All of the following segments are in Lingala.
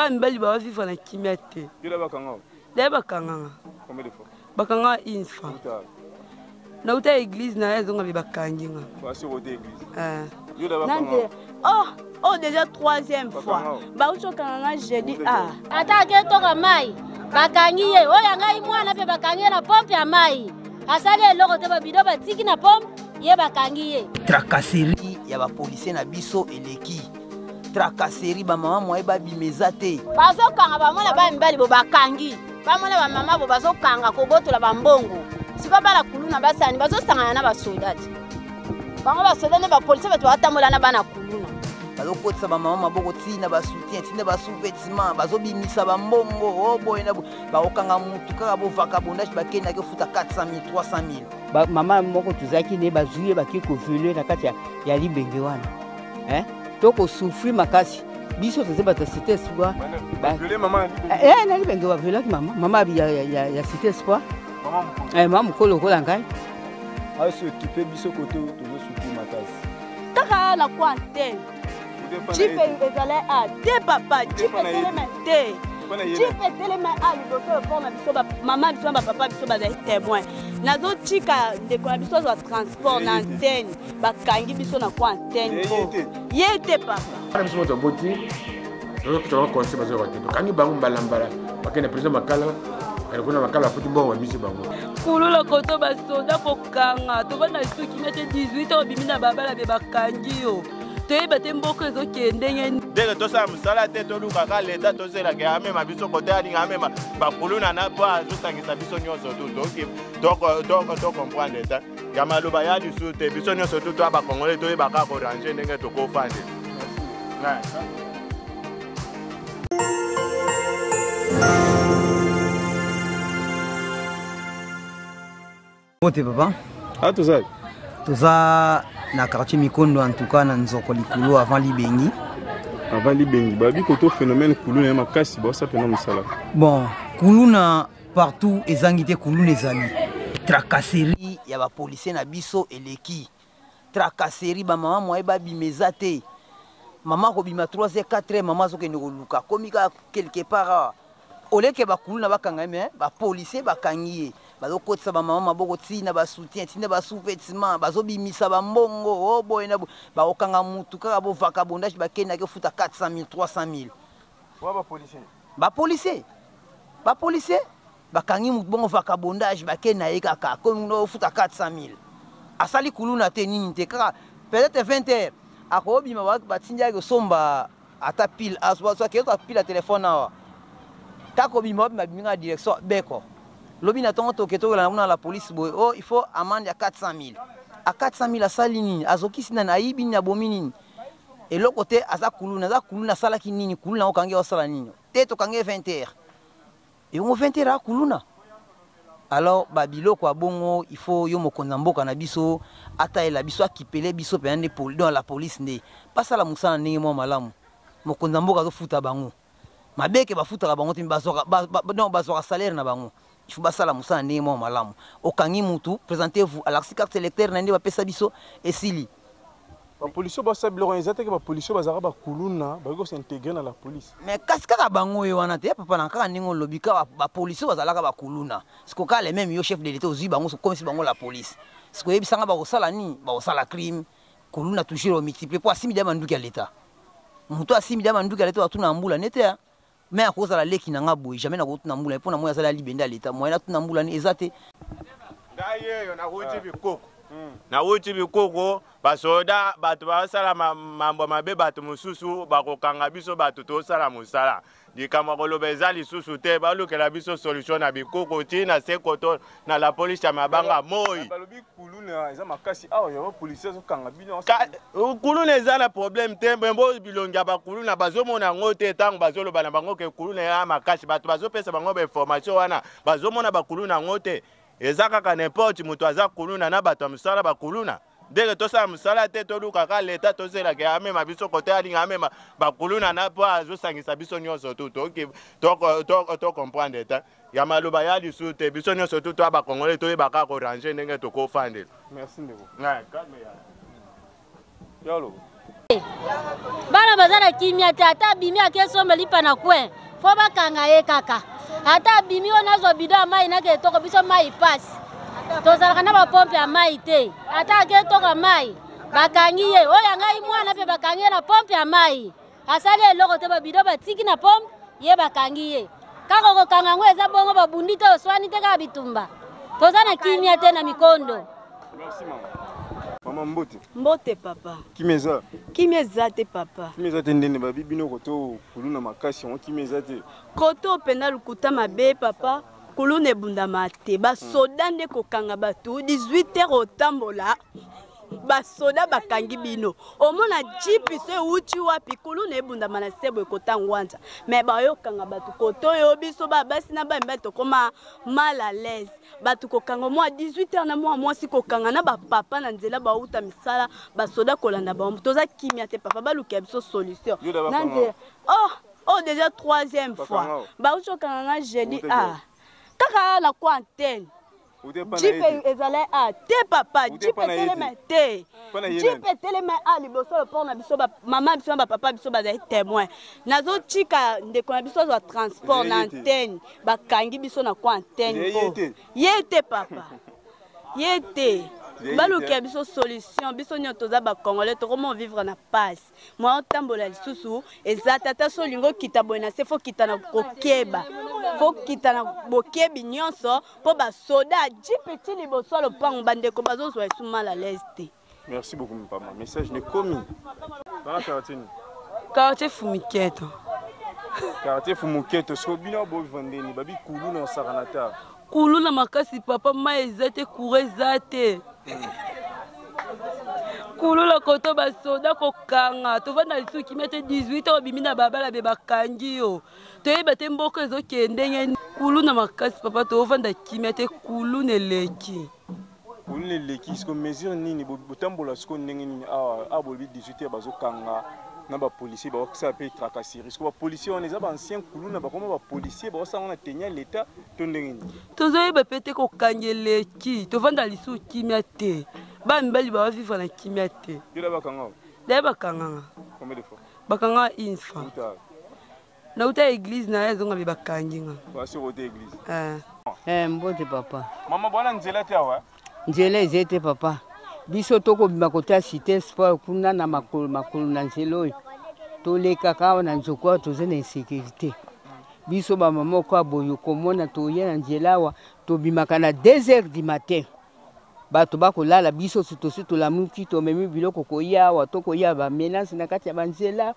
bana mibali bawa vivre na kimia te dela bakanganga bakanga une fois nauta église na ye azonga mpe bakangi nga eh. nande oh oh déjà troisième fois bauti okanga nga jeudi a ah. ata aketoka mai bakangi ye oyo ya ngai mwana mpe bakangi ye na pompe ya mai asali eloko te babido batiki na pompe ye bakangi ye tracasserie ya bapolisier na biso eleki tracasserie bamama mwaye babima eza te bazokanga bamona baya mibali bo bakangi bamona bamama bo bazokanga kobotola bambongo sikoyo bana kuluna basani bazosangana na basoda te bango basoda nde bapolisi bato batambola na bana kuluna bazokotisa bamama maboko ntina basoutien ntina basouvetima bazobimisa bambongo o oh, boye na bakokanga motu kaka bovaka bondashi bakendaki ofuta 400 000 300 000 ba, mama moko tozalaki ne bazwi ye bake kovele na kati ya, ya libenge wana eh? to kosufri makasi biso toza bato ya cité espoir eh, eh, na libenge baviolaki mama mama ya, ya, ya, ya cité espoir eh, mama mokolo lokola ngai asokipe biso kote tozosuki makasi kaka na kwan te jipe ezala a ah, te papa jipe telema te jipe telema a ah, liboso mpo na biso mama biso na bapapa biso bazali témoin nazotika ndeko na biso azwa transport na antenne bakangi biso na kwa antenne po ye te papa biso moto aboti tozokitaka conseil bazoyoka te tokangi bango mbalambala bakende president makala bakende kuna makala afuti mbongo ya misi bango kulula koto basoda kanga tovanda lisusu kimia te 18 ans obimi na babala be bakangi yo toyeba te mboka ezokende ndenge ndenge tosala mosala te tolukaka leta tozelaka amema biso kote alinga amema bakuluna na mpo azosangisa biso nyonso tu tocomprendre te ya maloba ya lisusu te biso nyonso tu toya bakongole toyebaka korange ndenge tokofande Mbote papa. Ah toza. Toza na quartier Mikondo en tout cas na Nzoko likolo avant Libengi. Avant Libengi babi koto phénomène kuluna ya makasi ba sa pena musala. Bon, kuluna partout ezangi te kuluna ezali. Tracasserie ya ba policiers na biso eleki. tracasserie ba maman moye ba bima eza te maman ko bima 3 heures 4 heures maman azo kende ko luka komi ka quelque part awa oleke ba kuluna ba kanga mais ba policiers ba kangi ye bazo kotisa ba maman maboko ti na ba soutien ti na ba sous-vêtements bazo bimisa ba mbongo o oh, boye na ba okanga mutu kaka bo vaka bondage ba kenda ke futa 400 000 300 000 wa ba policiers ba policiers ba policiers bakangi motu bongo vacabondage bake na ye kaka akomi kuna ofuta 400 000 asali kuluna te nini te kaka peut-être 20 heures akobima batindi yaki osomba ata pile azwazwakeyota pile ya telefone awa kaka kobima obima bimi kaka direction beko lobi na ntongo toke tokelana kuna la polise boye o oh, il faut amande ya 400 000 a 400 000 asali nini azokisi nani ayibi nini abomi nini eloko te aza kuluna aza kuluna asalaki nini kuluna okangi osala nini te tokangi 20 heures Yongo 20 heures akuluna. Alors ba biloko ya bongo il faut yo mokonzi ya mboka na biso atalela biso akipele biso mpenza nde poli, donc la police nde basala mosala ndenge mwa malamu. Mokonzi ya mboka azofuta bango mabe ke bafutaka bango te, bazwaka ba, ba, donc bazwaka salaire na bango il faut basala mosala ndenge mwa malamu. Okangi mutu, presentez-vous, alakisi carte électeur na nde bapesa biso, esili. bapolisi basala biloko eza teke bapolisi bazalaka bakuluna bakoki kosintegre na la police me kasi kaka bango ye wana te ya papa na kaka ndenge olobi kaka bapolisi bazalaka bakuluna siko kaka le meme yo chef de leta ozwi bango sokomisi bango la police siko oyebisanga bakosala nini bakosala crime kuluna toujours omultiplie mpo asimbi dia manduki ya leta moto asimbi dia manduki ya leta batuna ya mbula nete ya mais akozala leki na nga boye jamais nakotuna mbula mpo na moi azali alibende ya leta moyen natuna mbula ni eza te ngai yeyo nakoti bikoko hmm. nawuti bikoko basoda bato basala mambo mabe bato mosusu bakokanga biso bato tosala mosala likambo ya koloba eza lisusu te balukela biso solution na bikoko ntina se koto na la police ya mabanga moi balobi kuluna eza makasi awa yango policier azokanga bino kuluna eza na problème te mbo bilongi ya bakuluna bazomona yango te ntango bazoloba na bango ke kuluna ya makasi bato bazopesa bango bainformation wana bazomona bakuluna yango te eza kaka n'importe moto aza kuluna na bato ya mosala bakuluna ndenge tosala mosala te toluka ka leta tozela ke amema biso kote alinga amema bakuluna na mpo azosangisa biso nyonso tu tocomprendre te ya maloba ya lisu te biso nyonso tu toya bakongole toyeba kaka korange ndenge tokofandela merci ndeko yalo bana baza na kimia te ata abimi ake somba lipa na coin fo bakanga ye kaka ata abimi oyo nazwa bido ya mai nakee toko biso mai pasi tozalaka na bapompe ya mai te ata ake toka mai bakangi ye oyo ya ngai mwana mpe bakangi ye na pompe ya mai asali eloko te babido batiki na pompe ye bakangi ye kaka kokanga yango eza bongo babundi te oswani te kaka bitumba toza na kimia te na mikondo Merci maman. Maman mbote. Mbote papa. Kimia eza. Kimia eza te papa. Kimia eza te ndende babi bino koto kuluna makasi yango kimia eza te. Koto penda lukuta mabe papa. kuluna ebundama te basoda nde kokanga bato 18 heures otambola basoda bakangi bino omona jipi so euti wapi kuluna ebundama na sebo ekota ngwanza me bayokanga bato koto oyo biso babasi na bamibali tokoma mal à l'aise bato kokanga mwa 18 heures na mwa mwasi kokanga na bapapa na nzela bauta misala basoda kolanda bango toza kimia te papa balukela biso solution na nzela oh, oh déjà troisième fois bauti kokanga nga jeudi ah kaka na kwa antenne jipe ezali a te papa jipe etelema te jipe etelema a liboso loport na biso mama biso na bapapa biso bazali témoin nazotika ndeko na biso azwa transport na antenne bakangi biso na coin antenne po ye te papa ye te baluka biso solution biso nyonso toza bacongolais tokomo vivre na pasi mwa otambola lisusu eza tata so olingi okita boye na se fokita na kokeba fokita na bokebi nyonso mpo basoda jipe ti liboso ya lopango bandeko bazozwa esu mal à l'aise te Merci beaucoup mpama. Message ne komi. Bana quartier ni. Quartier Fumiketo. Quartier Fumiketo. Siko bino bo vandeni babi kulu na sakanata. Kulu na makasi papa mai eza te courant eza te. Kulu la koto ba soda ko kanga. Tovanda lisu kimia te 18 ans obimi na babala be bakangi yo. Toyeba te mboko ezo kende ngeni. Kulu na makasi papa tovanda kimia te kulu neleki. Kuluna eleki siko mesure nini botambola siko ndenge nini awa awa bolobi 18 heures bazokanga na bapolicier bakosala mpe tracasserie siko bapolicier wana eza baancien kuluna bakoma bapolicier bakosala ngo na teni ya leta to ndenge nini tozoyeba mpe te kokanga eleki tovanda lisusu kimia te bana mibali bawavivre na kimia te yola bakanga daye bakanganga bakanga une fois nauta eglise na ye azonga mpe bakangi nga basi okota eglise eh. eh, mbote papa mama bwana nzela te awa nzela eze te papa biso tokobima kota cité sport kuna na makolo makolo na nzela oyo tolekaka awa na nzoku awa toza na insécurité biso bamama oko aboyi okomona toye na nzela awa tobimaka na 2 heures du matin bato bakolala biso si tosi tolamuki tomemi biloko koya awa to koya bamenance na kati ya banzela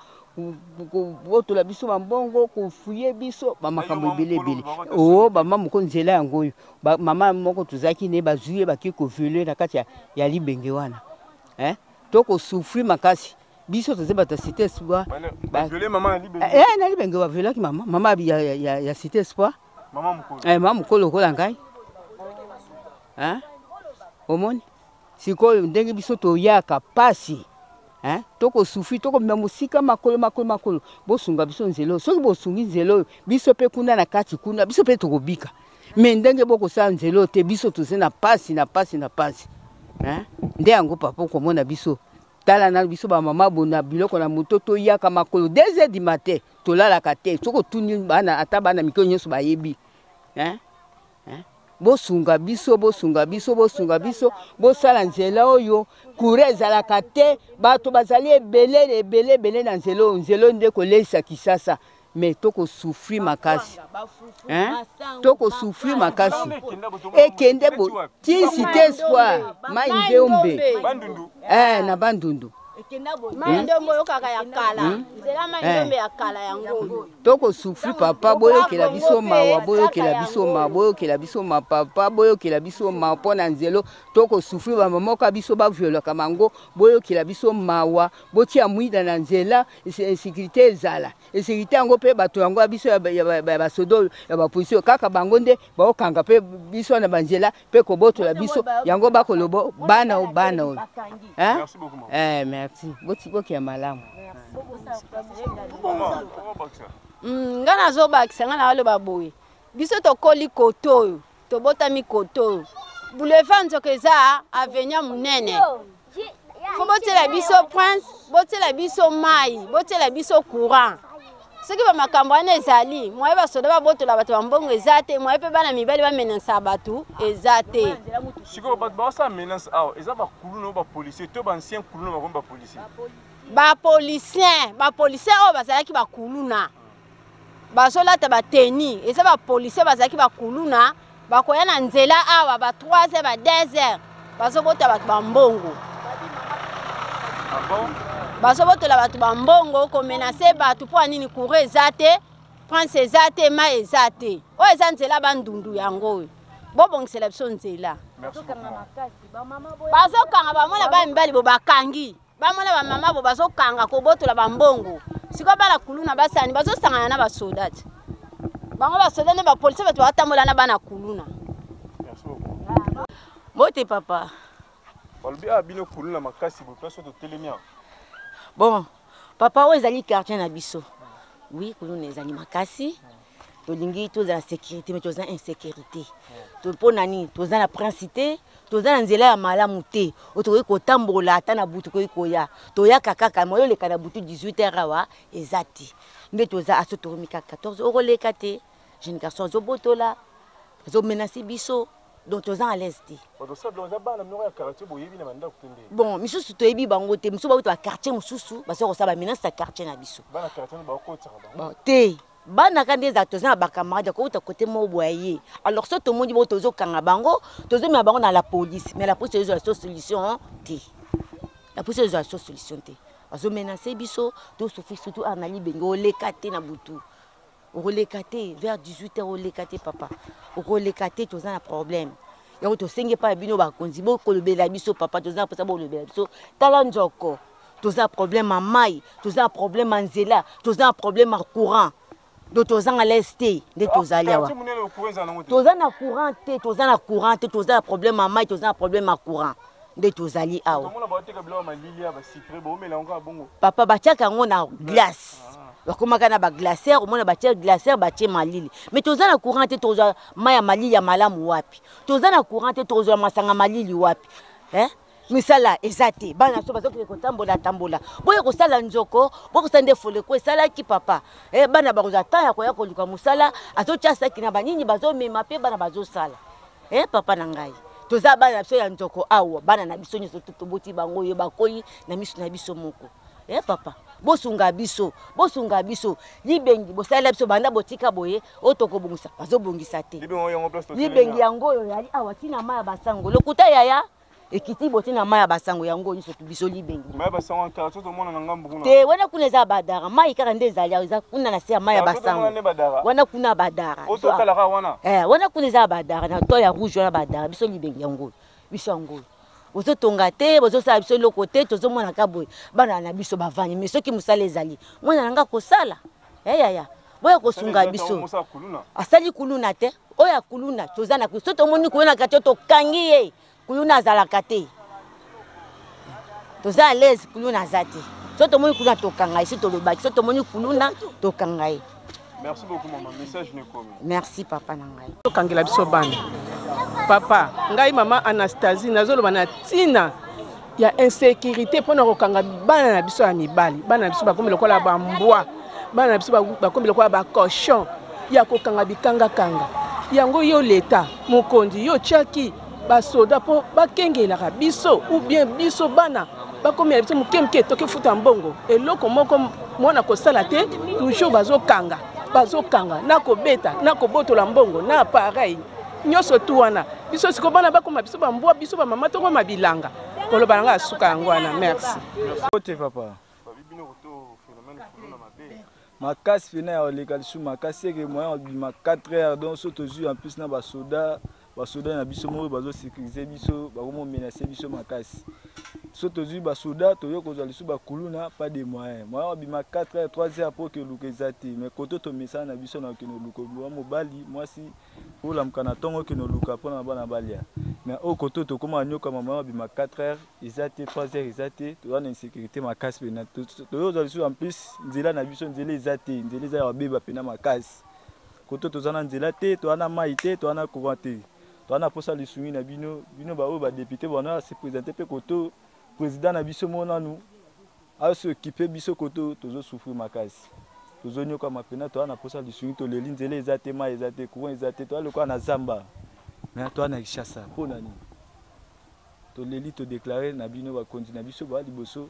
kobotola biso bambongo kofuye biso bamakambo ebele ebele o bama moko nzela yango oyo mama moko tozalaki ne bazwi ye bake kovele na kati ya, ya libenge wana eh? to kosufri makasi biso toza bato ya cité espoir eh, na libenge bavelaki mama mama ya, ya, ya cité espoir mama mokolo eh, mama mokolo lokola ngai eh? omoni sikoyo ndenge biso toyaka pasi eh? tokosufi tokomema mosika makolo makolo makolo bosunga biso nzela oyo soki bosungi nzela oyo biso mpe kuna na kati kuna biso mpe tokobika me ndenge bokosala nzela oyo te biso toza na pasi na pasi na pasi eh? nde yango papa okomona biso tala nanu biso bamama bona biloko na moto toyaka makolo 2 heures du matin tolalaka te soki otuni bana ata bana mike nyonso bayebi hein? Hein? bosunga biso bosunga biso bosunga biso bosala nzela oyo kura ezalaka te bato bazali ebele ebele ebele na nzela oyo nzela oyo nde koleisa kisasa me tokosufri makasi tokosufri makasi ekende bo ti site espoir mai ndeombe eh, na bandundu tokosufri papa boyokela biso mawa boyokela biso mawa boyokela biso ma papa boyokela biso mawa mpo na nzelo tokosufri bamamoka biso baviolaka bango boyokela biso mawa botia mwida na nzela insécurité ezala insécurité yango mpe bato yango ya biso ya basoda oyo ya bapolisi oyo kaka bango nde baokanga mpe biso na banzela mpe kobotola biso yango bakoloba bana o bana oyo eh, merci botiboki ya malamu mm, ngai nazobakisa ngai naaloba boye biso tokoli kote oyo tobotami kote oyo boulevard nzoka eza avenia monene fo botiela biso prince botiela biso mai botiela biso courant soki bamakambo wana ezali mwaye basoda babotola bato bambongo eza te mwaye mpe bana mibali bamenansa bato eza te sikoyo bato baosala menance awa eza bakuluna bapolicier to baancien kuluna bakomi bapolicier bapolicien bapolicien oyo bazalaki bakuluna bazolata bateni eza bapolisier bazalaki bakuluna bakoya na nzela awa ba 3 heures ba 2 heures bazobota bato bambongo ah bazobotola bato bambongo komenase bato mpo ya nini courant eza te prince eza te mai eza te oyo eza nzela bandundu yango oyo bobongisela biso nzela bazokanga bamona baya mibali bo bakangi bamona bamama bo bazokanga kobotola bambongo sikoyo bana kuluna basani bazosangana na basoda te bango basoda nde bapolisi bato bakatambola na bana kuluna bote papa balobi a ah, bino kuluna makasi boye place totelemi yango bon papa oyo ezali quartier na biso wi kuluna ezali makasi tolingi tozala sécurité mais toza insécurité mpo na nini toza na prince te toza na nzela ya malamu te oyo tokoki kotambola ata na butu tokoki koya toyaka kaka moyo oleka na butu 18 heure awa eza te nde toza aso toromi kaka 14 okoleka te jeune garçon azobotola azomenase biso donc toza à l'aise te bon misusu toyebi bango te misusu bauta baquartier mosusu baza kosala bamenace ya quartier na biso te bana ka nde ezala toza na bacamarade ya kouta kote moko boya ye alors so tomoni bo tozokanga bango tozomema bango na la police mais la police ezozwa so solution te la police ezozwa so solution te bazomenase biso tosufi surtout awa na libenge oleka te na butu okoleka te vers 18 heures oleka te papa okoleka te toza na problème yango tosengi epai ya bino bakonzi bokolobela biso papa toza na mposa bolobela biso tala nzoko toza na problème ya mai toza na problème ya nzela toza na problème ya courant do tozanga les te nde tozali awa toza na courant te toza na courant te toza na problème ya mai toza na problème ya courant nde tozali awa papa batiaka yango na glace ah. bakomaka na baglaciere omona batie glaciere batie malili mais toza na courant te tozwa mai ya malili ya malamu wapi toza na courant te tozwa masanga malili wapi eh? misala eza te bana so bazokende kotambola tambola boye kosala nzoko boye kosala nde foleko esalaki papa e, bana bakozwa temps ya koya koluka mosala azotya saki na banini bazomema mpe bana bazosala e, papa na ngai toza bana na biso ya nzoko awa bana na biso nyonso toboti bango oyo bakoli na miso na biso moko eh papa bosunga biso bosunga biso libengi bosalela biso banda botika boye oyo tokobongisa bazobongisa te libengi yango oyo yali awa ntina mai ya basango lokuta yaya ekiti boti na mai ya basango yango nyonso biso libengi te wana kuna eza badara mai kaka nde ezali awa eza kuna na se ya mai ya basango wana kuna badara eh, wana kuna eza badara na to ya rouge wana badara biso libengi yango biso yango bozotonga te bozosala biso eloko te tozomonaka boye bana na biso bavandi mai soki mosala ezali mwana na ngai kosala yayaya eh, boya kosunga biso asali kuluna te oyo ya kuluna toza na so tomoni kuluna kati tokangi ye kuluna azalaka te toza alaise kuluna aza te so tomoni kuluna tokanga ye so tolobaki so tomoni kuluna tokanga ye Merci beaucoup maman, message ne komi. Merci papa na ngai. Tokangela biso bana. Papa, ngai maman Anastasie nazoloba na tina ya insécurité mpo na kokanga bana na biso ya mibali. Bana na biso bakomi lokola ba mbwa. Bana na biso bakomi lokola ba cochon ya kokanga bikanga kanga. Yango yo leta, mokonzi yo chaki basoda mpo bakengelaka biso ou bien biso bana bakomela biso moke moke toki futa mbongo eloko moko mwana kosala te toujours bazokanga bazokanga na kobeta na kobotola mbongo na appareil nyonso tu wana biso siko bana bakoma biso bambwa biso bamama tokoma bilanga koloba na ngai asuka yango wana merci ote papa makasi mpena ya oleka lisusu makasi eke moyen obima 4 heures donc so tozwi en plus na basoda basoda na biso moko bazo sécuriser biso bakomo menace biso makasi so tozwi basoda toye kozwa lisusu bakuluna pas de moyen moyen abima 4 heures 3 heures mpo keluka eza te mais koto tomesana na biso na okende oluka obima mobali mwasi olamuka na ntongo okende oluka mpo na bana balia mais oyo koto tokoma anyokama moyen abima 4 heures eza te 3 heures eza te toza na insécurité makasi mpena toye kozwa lisusu en plus nzela na biso nzela eza te nzela eza ya babeba mpena makasi koto toza na nzela te toza na mai te toza na courant te toza na posa lisungi na bino bino baoyo badepute bana ya se présente mpe koto président na biso mo nanu asokipe biso koto tozosufri makasi tozonyokama mpena toza na posa lisungi toleli nzela eza te mai eza te courant eza te toza lokola na zamba me toza na kishasa mpo na nini toleli todeklare na bino bakonzi na biso baa liboso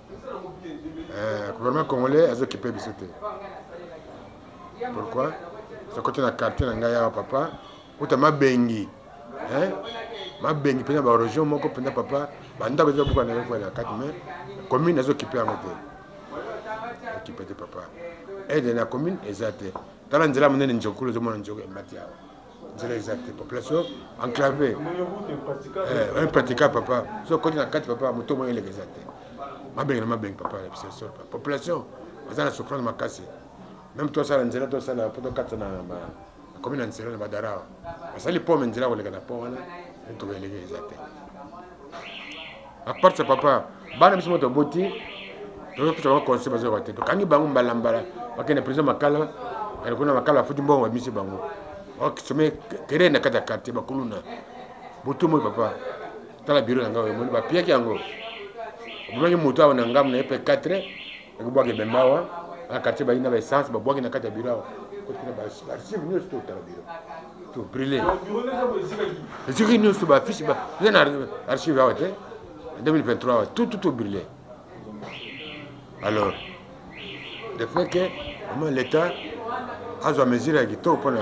eh, gouvernement congolais azokipe biso te pourquoi sokoti na quartier na ngai awa papa uta mabengi eh? mabengi mpenza baregion moko mpenza papa bandako eza buka na yokwela kati mai commune azokipe yango te okipe te papa aide na commune eza te tala nzela monene njokulu ozomona njoko emati awa nzela eza te population enclave eh, impraticable papa so okoti na kati papa moto moko eleka eza te mabenge na mabenge papa obsession papa population aza na souffrance makasi meme tosala nzela tosala po tokatisa na komi na nzela na badara basali pome nzela koleka na po wana tokoeleka eza te apart sa papa bana biso moto aboti tozopesa bango conseil bazoyoka te tokangi bango mbalambala bakende prison makala kende kuna makala afuti mbongo bamisi bango okisome kere na kati ya quartier bakuluna butu moi papa tala biro na ngai omoni bapiyaki yango omemaki moto awa na ngambo na ye mpe 4 ekobwaka ebembe awa na quartier bayi na baessence babwaki na kati ya biro awa kotina baarchive nyonso totala biro to brille esika nyonso bafiche eza na archive awa te 2023 awa tout tout brille alors de fait que vraiment l'état azwa mesure ya kitoko mpona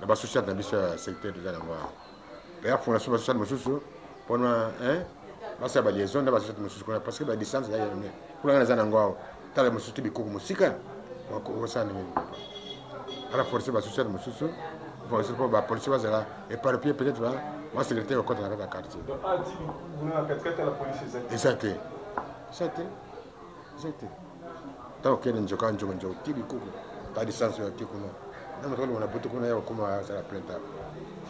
na ba société na biso ya secteur toza nango awa ya fondation ba société mosusu mpona basala ba liaison na ba société mosusu kuna parce que ba distance ya yone kuna naza nango awa tala mosusu te bikoko mosika okosala ndenge nini ala force ba société mosusu force mpo ba policier bazala éparpillé peut-être ba mwa sécurité ekokota na kati ya quartier eza te eza te zete ntango kende nzoka nzoka nzoka ti bikuku pas de sens oyo ake kuna na moto alongo na butu kuna ya kokoma azala plenta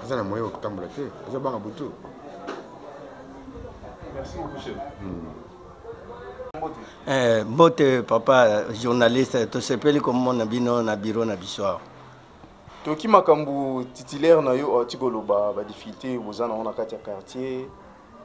aza na moyen okotambola te aza banga butu merci beaucoup chef hmm. Eh, mbote papa journaliste tosepeli komona bino na biro na biso awa toki makambo titulaire na yo ati koloba badifficulté boza nango na kati ya quartier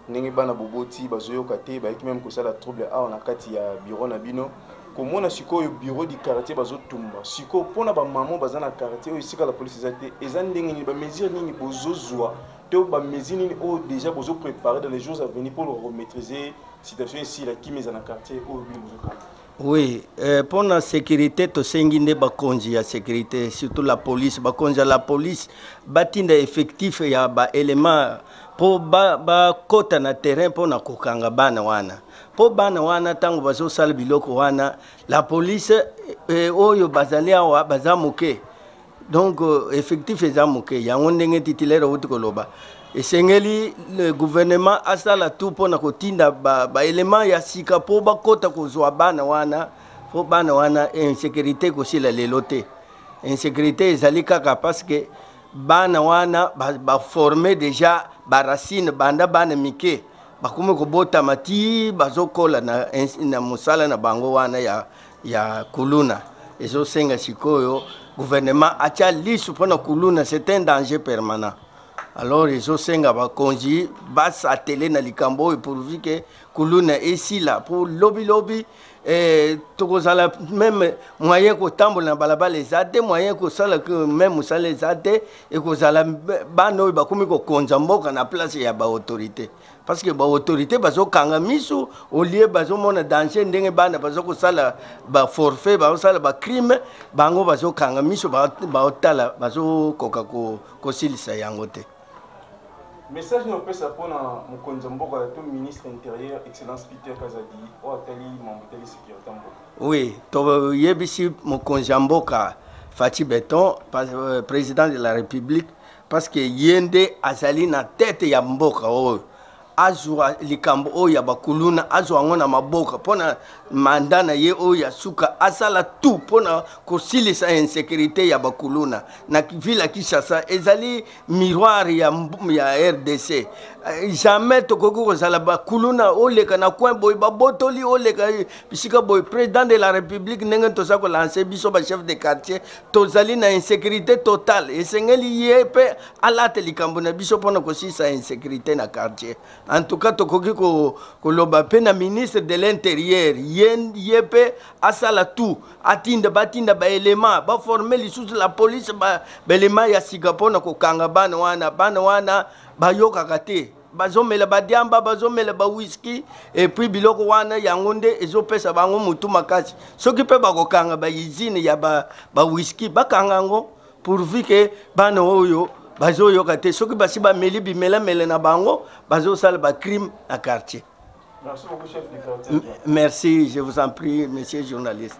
ndenge bana boboti bazoyoka te bayaki meme kosala trouble awa na kati ya bureau na bino komona sikoyo bureau du quartier bazotumba sikoyo mpona bamama baza na quartier oyo esika la polisi eza te eza ndenge nini bamesure nini bozozwa to bamesure nini oyo déjà bozo préparer dans les jours à venir mpo loka komaîtrise situation esila kimi eza na quartier oyo bino bozokana Oui, euh, pour la sécurité, to sengi nde bakonzi ya sécurité, surtout la police, bakonzi ya la police, batinda effectif ya ba éléments pour ba ba kota na terrain pour na kokanga bana wana. Pour bana wana tango bazo sala biloko wana, la police euh, oyo bazali awa baza moke. donc euh, effectif eza moke yango ndenge titulaire outi koloba esengeli le gouvernement asala tout mpo na kotinda baelema ba ya sika mpo bakɔta kozwa bana wana mpo bana wana insécurité ekosila lelo te insécurité ezali kaka parce que bana wana baforme ba déjà baracine banda bana mike bakomi kobotama ti bazokola na, na mosala na bango wana ya ya kuluna ezosenga sikoyo gouvernement atya lisu mpo na kuluna c'est un danger permanent alors ezosenga bakonzi basatele na likambo oyo pourvu ke kuluna esila mpo lobilobi eh, tokozala meme moyen kotambola na balabala eza te moyen kosala meme mosala eza te ekozala bana oyo bakomi kokonza mboka na place ya baautorité parce que baautorité bazokanga miso olie bazomona danger ndenge bana baza kosala baforfait bazosala bacrime bango bazokanga miso baotala bazokoka kosilisa yango te message nini opesa mpona mokonzi ya mboka to ministre intérieur excellence peter kazadi oyo atali mambo etali sécurité ya mboka oui toyebisi mokonzi ya mboka fati beton euh, président de la république parce que ye nde azali na tete ya mboka oyo azwa likambo oyo ya bakuluna azwa yango na maboka mpo na manda na ye oyo ya suka asala tout mpo na kosilisa insécurité ya bakuluna na ville ya kinshasa ezali miroir ya, ya rdc eh, jamais tokoki kozala bakuluna oleka na coin boye babotoli oleka bisika boye président de la république ndenge toza kolanse biso bachef de quartier tozali na insécurité totale esengeli ye mpe alate likambo na biso mpona kosilisa insécurité na quartier en tout cas tokoki koloba mpe na ministre de l'intérieur ye mpe asala tout atinda batinda baelema baforme lisusu la police baelema ya sika mpona kokanga bana wana bana wana bayokaka te bazomela badiamba bazomela bawiski epuis biloko wana yango nde ezopesa bango motu makasi soki mpe bakokanga baizine ya bawiski ba bakanga yango pourvu ke bana oyo bazoyoka te soki basi bameli bimelamele na bango bazosala bacrime na quartier merci, beaucoup, chef du quartier. merci je vous en prie monsieur journaliste